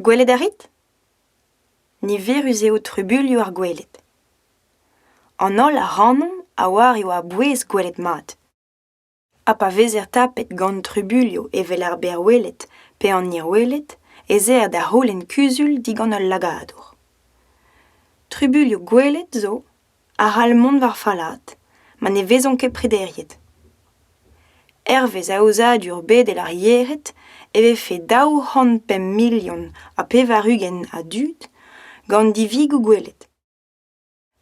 Gwelet a rit ? Niverus eo trubuilhoù ar gweled. An holl ac'hanomp a oar e oa a-bouez gwelet mat. Ha pa vezer tapet gant trubuilhoù evel ar berrweled pe an hirweled ez eer da c'houlenn kuzul digant ul lagadour. Trubuilhoù gwelet zo a-c'hall mont war fallaat ma ne vezont ket prederiet. Hervez aozadur bedel ar yered e vefe daou c'hant pemp milion ha pevar-ugent a dud gant divigoù gwelet.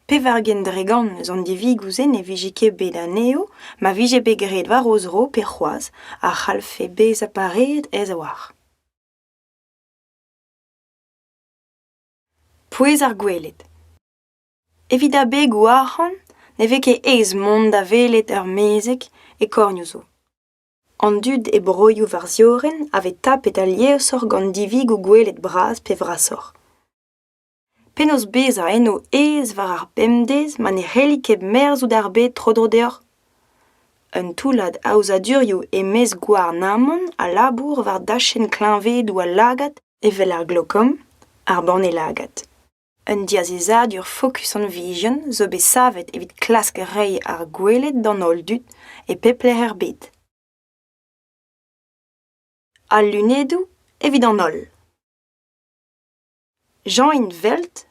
Pevar-ugent dre gant eus an divigoù-se ne vije ket bet anezho ma vije bet graet war o zro pe c'hoazh a c'hallfe bezañ pareet aes-a-walc'h. Pouez ar gweled. Evit abegoù arc'hant ne vez ket aes mont da welet ur mezeg e kornioù zo. An dud e broioù war ziorren a vez tapet aliesoc'h gant divigoù gwelet bras pe vrasoc'h. Penaos bezañ eno aes war ar bemdez ma ne c'helli ket merzout ar bed tro-dro deoc'h? Un toullad aozadurioù e-maez Gouarnamant a labour war dachenn kleñvedoù al lagad evel ar glokom, ar banne lagad. Un diazezadur fokus hon vijen zo bet savet evit klask reiñ ar gweled d'an holl dud e pep lec'h er bed. Al lunedoù evit an holl. Jean Invelt,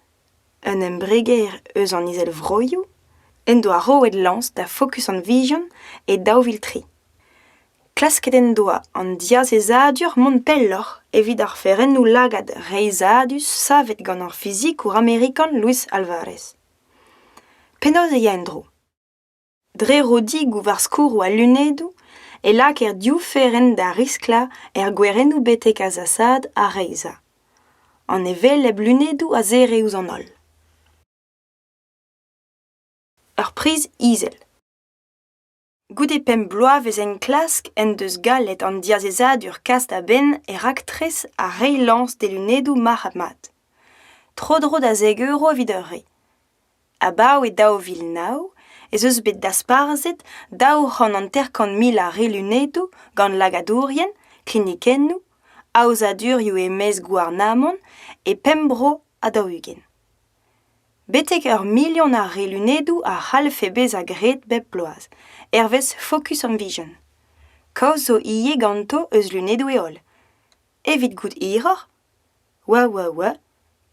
un embreger eus an Izelvroioù, en doa roet lañs da Fokus hon vijen e daou vil tri. Klasket en doa an diazezadur mont pelloc'h evit oferennoù lagad reizhadus savet gant ar fizikour amerikan Luis Alvarez. Penaos e ya en-dro? Dre rodigoù war skourroù al lunedoù e lakaer div ferenn da risklañ er gwerennoù betek azasaat ha reizhañ. An hevelep lunedoù a zere ouzh an holl. Ur priz izel. Goude pemp bloavezh enklask en deus gallet an diazezadur kas da benn e raktres ar reiñ lañs d'e lunedoù marc'had-mat. Tro-dro da zek euro evit ur re. Abaoe daou vil nav ez eus bet dasparzhet daou c'hant hanter-kant mil a re lunedoù gant lagadourien, klinikennoù, aozadurioù e-maez gouarnamant e pemp bro ha daou-ugent. Betek ur milion a relunedoù a c'hallfe bezañ graet bep bloaz, hervez Focus on Vision. Kaoz zo ivez ganto eus lunedoù-heol. Evit goût hiroc'h Wah wah wah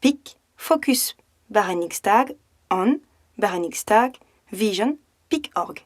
pik Focus barrennig stag on barrennig stag vision pik org.